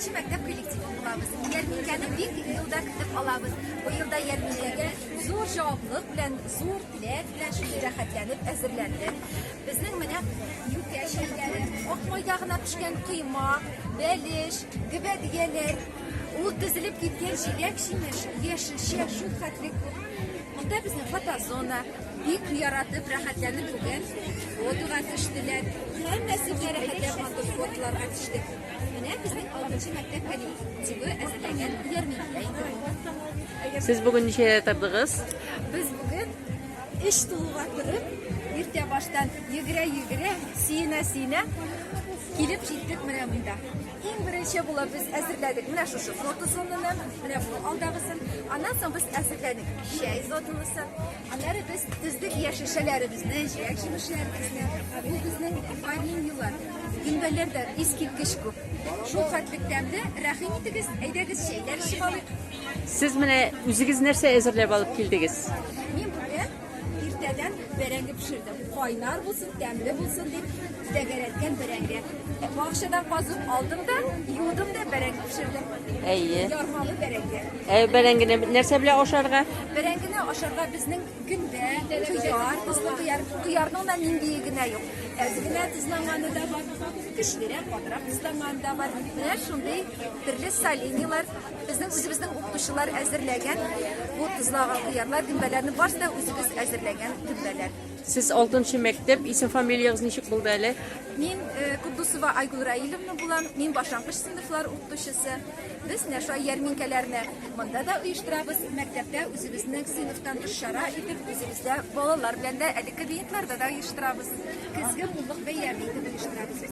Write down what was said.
Нче мәктәп коллективы булабыз. Ярминкәне бик елда көтеп алабыз. Бу елда ярминкәгә зур җаваплылык белән, зур теләк белән шундый рәхәтләнеп әзерләндек. Безнең менә юкә чәйләре, ак майда гына пешкән коймак, бәлеш, гөбәдияләр, ул тезелеп киткән җиләк-җимеш, яшелчә, шул хәтле күп. Монда безнең фотозона, бик яратып, рәхәтләнеп бүген фотога төштеләр. Һәммәсе дә рәхәтләп матур фотоларга төште. Менә безнең алтынчы мәктәп коллективы әзерләгән ярминкә инде. Сез бүген ничә тордыгыз? Без бүген эш тулуга торып, иртә баштан йөгерә-йөгерә, сөенә-сөенә килеп җиттек менә монда. Иң беренче булып без әзерләдек менә шушы фотозонаны, менә бу алдагысын. Аннан соң без әзерләдек чәй зонасын. Аннары без төздек яшь шешәләребезне, җиләк җимешләребезне. Бу безнең ванильнилар. Гөмбәләрдә искиткеч күп. Шул хәтлек тәмле. Рәхим итегез, әйдәгез чәйләр эчеп алыйк. Сез менә үзегез нәрсә әзерләп алып килдегез? Мин бүген иртәдән бәрәңге пешердем. Кайнар булсын, тәмле булсын дип. Тәгәрәткән бәрәңге. Бакчадан казып алдым да, юдым да бәрәңге пешердем. Әйе. Ярмалы бәрәңге. Ә бәрәңгене нәрсә белән ашарга? Бәрәңгене ашарга безнең көндә кыяр, кызыл кыяр, кыярның да ниндие генә юк. Әз генә тозланганы да бар, көчлерәк, катырак тозланганы да бар. Менә шундый төрле соленьялар безнең үзебезнең укытучылар әзерләгән. Бу тозлаган кыярлар, гөмбәләрне барысы да үзебез әзерләгән гөмбәләр. Сез алтынчы мәктәп, исем-фамилиягез ничек булды әле? Мин э, Кудусова Айгул Раилевна булам. Мин башлангыч сыйныфлар укытучысы. Без менә шулай ярминкәләрне монда да оештырабыз. Мәктәптә үзебезнең сыйныфтан тыш чара итеп, үзебездә балалар белән дә әлеге клиентларда да оештырабыз. Көзге муллык бәйрәме итеп оештырабыз.